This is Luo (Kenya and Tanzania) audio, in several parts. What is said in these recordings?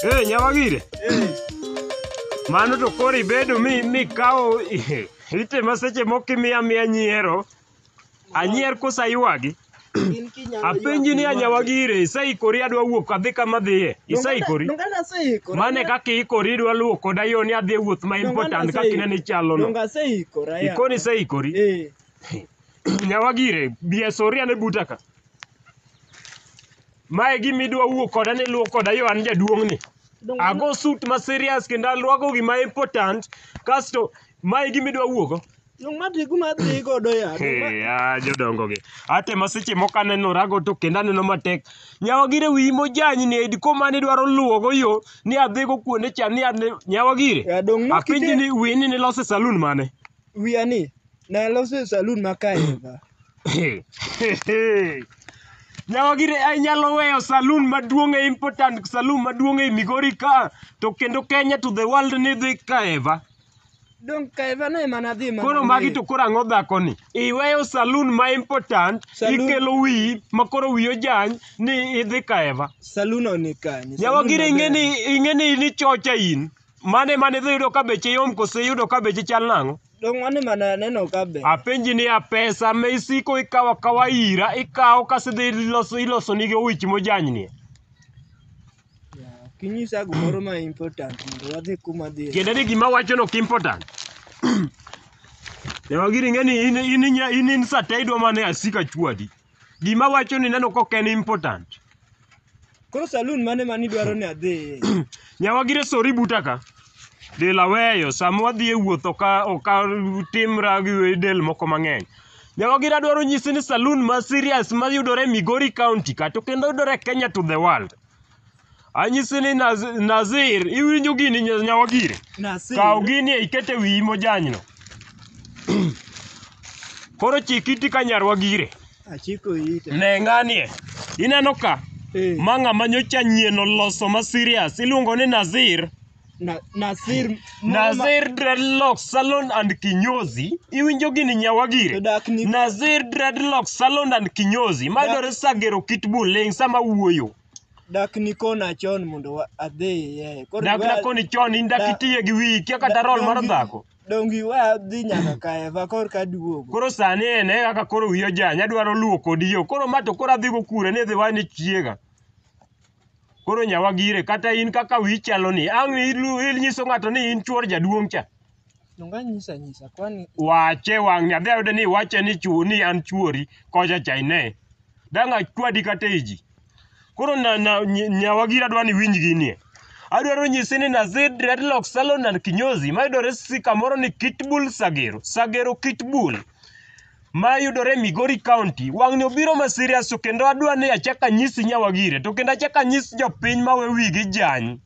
Eh, nyawagire. Mano to koro ibedo mi mikawo itema seche moko imiya miya nyiero. Anyier kosa ywagi. In kinyalo Apenji ni ywak, anyawagire isaikori adwa wuok adhi kama adhiye. Isaikori. Donga naseikora. Mane kaka iikori idwa luwo koda yo ni adhi e wuoth ma important kaka inene ichalono. Donga aseikora. ya. Ikoni isaikori. Eh. Nyawagire, bi asori ane buta ka. Mae gima idwa wuo koda ni luwo koda yo an jaduong'ni. Ago suit ma serious kendo alwako gima important kasto mae gima idwa wuogo. Yung madhi kuma dhi godo ya. Hey, ah, jodongo gi. Ate ma seche moko aneno rago to kendo aneno matek. Nyawagire wiyi mojanyi ni edi koma ne dwaro luwogo yo ni adhigo kuonde cha ni ane nyawagire. Ya dong' no Apenji kite- ni wini ni lose saloon mane? wiya ni naloso e salun ma kaeva. Nyawagire inyalo weyo salun maduong' e important salun maduong' e Migori ka to kendo Kenya to the world ni dhi kaeva. Dong kaeva no ema nadhi mana. Koro magi to koro ang'o dhakoni? Iweyo salun ma important Salun- ikelo wiyi ma koro wiyi ojany ni idhi kaeva. Salun no ni kanye? Nyawagire Salun ing'e maber. ni ing'e ni in ichocha in. Mane mane idhi yudo ka beche yom kose iyudo ka beche chal nang'o? Dong' mane mane aneno ka be. Apenji niya, pesa ma isiko ikawo akawa ira, ikawo kasto idhi iloso iloso nigi owich mojanynie. Ok inyisa gimoro ma important mondo wadhi kuma dhi. Tiende ni gima awachono ok important. Yawa gini ing'e ni in in in in sata idwa mana ni asik achwadi. Gima wacho ni neno kok en important. Koro saloon mane mani dwaro ni adhi? Nyawagire sori buta ka. Del aweyo sama wadhi e wuoth oka oka timra gi del moko mang'eny. Nyawagire adwaro nyisi ni saloon ma serious mayudore e Migori County kata kendo yudore e Kenya to the world. Anyisi ni Naz- Nazir, iwinjo gini nya- nyawagire? Nasir. Kaw gini iket e wiyi mojanyno. Koro chik iti ka nyarwa gire. Achiko ite. Ne ng'anie. Ineno ka? Eh, Ma ng'ama nyocha nyien oloso ma serious. Iluongo ni Nazir. na- Nasir. Nazir Dreadlock Salon and Kinyozi. Iwinjo gini nyawagire? Odak ni- Nazir Dreadlock Salon and Kinyozi. Dak- Mayudore Sagero Kitbull Ling sama wuoyo. Dak nikona chon mondo wa- adhiye. Koro Dak wa- nakoni chon in dak da- itiye gi wiyi kia kata roll mar dongi- dhako. Dongi we adhi nyaka kaeva kor ka duogo. Koro sani en e kaka koro wiyo jany adwaro luwo kodi yo. Koro ma to koro adhi go kure ni dhi wani chiega. Koro nyawa gire kata in kaka wiyi chalo ni ang' ilu- inyiso ng'ato ni in chuor jaduong' cha. Donga nyisa nyisa kwani wache wang'ni adhi ayude ni iwache ni chuo ni an chuori kocha cha ine dang' achwadi kata e ji koro na, na, ny- nyawagira dwa ni winj ginie adwaro nyisi ni nazi dreadlock salon and kinyozi mayudore si kamoro ni kitbul sagero sagero kitbul ma yudore e Migori County. Wang'ni obiro ma serious to kendo adwa ni achak anyisi nyawagire to kendo achak anyis jopiny ma we wigi jany.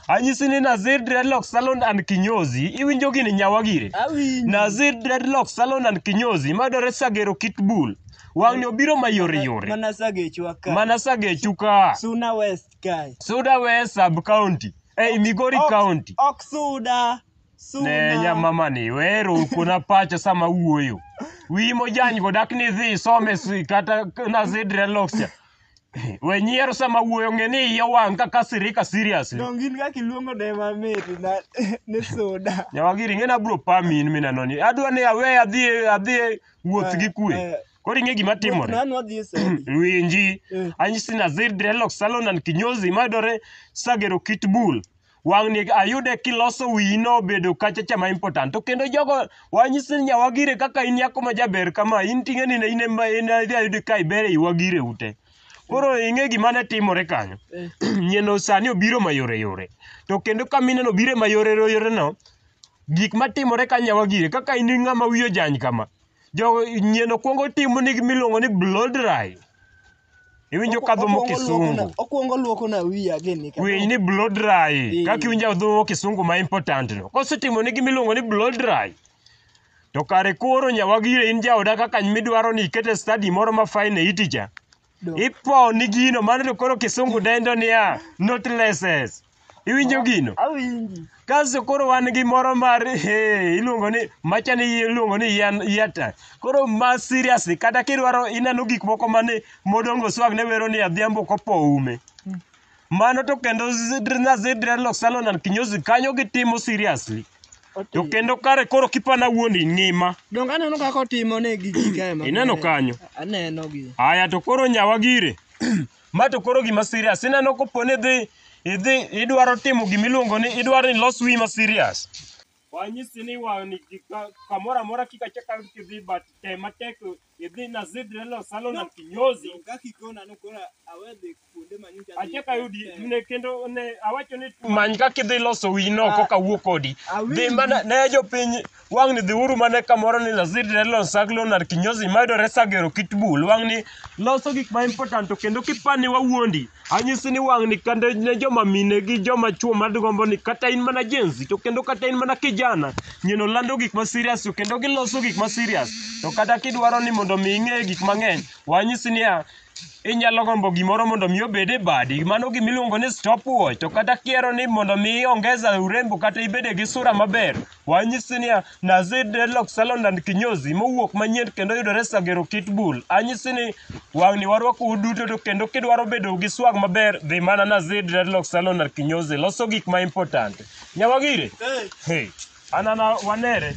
Anyisi ni Nazir Dreadlock Salon and Kinyozi, iwinjo gini nyawagire? Awinjo. Nazir Dreadlock Salon and Kinyozi mayudore Sagero Kitbull. Wang'ni obiro ma yore yore. Mana sagechwa ka. Mana Sagechu ka. Suna West kae. Suda West Sub County. Ei Migori Ok- County. Ok suda. ne nyamamani wero kuna pacho sama wuoyo wiyi mojanygo dak ni dhi isome si- kata nazi dreadlocks cha we nyiero sama wuoyo ng'e ni iye wang' kaka sirika seriously Donge in kaka iluongo ne mamit na ne soda. nyawagiri ng'e nabro pami in minanoni adwa ni awe adhi adhi wuoth gi kwe Eh, koro ing'e gima timore Nano adhi e sedi. winji Eh. anyisi nazir dreadlocks salon and kinyozi mayudore sagero kitbull wang'ni ayude kiloso wiyi nobedo kachacha ma important to kendo jogo wanyisi ni nyawagire kaka in nyako ma jaber kama in ting'e ni in ema in adhi ayudi ka iber ei wagire ute koro ing'e gima ne timore kanyo nyieno sani obiro mayore yore to kendo ka mineno obiro mayore yore no gik matimore ka nyawagire kaka in ng'ama wiyo jany kama jogo nyieno kwongo timo ni gimiluongo ni blow dry Iwinjo ka dhumo kisungu. Okuongo luoko na wiya gini. Winy ni blow dry. Eh. Kaka iwinjo dhumo kisungu ma important no. Kosetimo ni gimiluongo ni blow dry. To kare koro nyawagire in jaoda kaka midwaro ni ikete study moro ma fine e iticha. Ipo ni gino mano to koro kisungu dendo niya, not lessons. Iwinjo gino? Awinji. Kasto koro wan gi moro mar eh, iluongo ni macha ni iluongo ni yan yata. Koro ma seriously kata kidwaro ineno gik moko mane modongo swag ne wero ni adhiambo kopo ume. Mano to kendo zidrna zidre lok salon and kinyozi kanyo gitimo seriously. To Oti. kendo kare koro kipana wuondi ngima. Donge aneno kaka otimo ne gi ji kae ma. Ineno kanyo. Aneno gi. Aya to koro nyawa gire. Ma to koro gima serious. Ineno kopo ni idhi idhi idwaro timo gima iluongo ni idwaro ni los wiyi ma serious. Wanyisi ni wang'ni gi- ka- kamoro amora kik achak ayud kidhi but tem matek idhi na zidre lo salo na kinyozi achak ayudi ne kendo ne awacho ni many kaka idhi loso wiyi no koka wuo kodi. Dhi mana ne jopiny Wang' ni dhiuru mane kamoro ni Nazir Relon Saglo nar kinyozi mayudore Sagero Kitbul. Wang' ni loso gik ma important to kendo kipani wawuondi. Anyisi ni wang' ni kande ne joma mine gi joma chuo madgombo ni kata in mana jenzi to kendo kata in mana kijana. Nyono lando gik ma serious to kendo giloso gik ma serious. To kata kidwaro ni mondo mi ing'e gik mang'eny wanyisi niya inyalo gombo gimoro mondo mi obed e badi mano gima iluongo ni stopwatch to kata kiero ni mondo mi iongeza urembo kata ibede gi sura maber Wanyisi niya, Nazi Dreadlock Salon and Kinyozi mowuok manyien kendo yudore Sagero Kitbull. Anyisi ni wang'ni warwako uduto to kendo kidwaro bedo gi swag maber dhi mana Nazi Dreadlock Salon and Kinyozi loso gik ma important. Nyawagire. Hey. Anana wanere.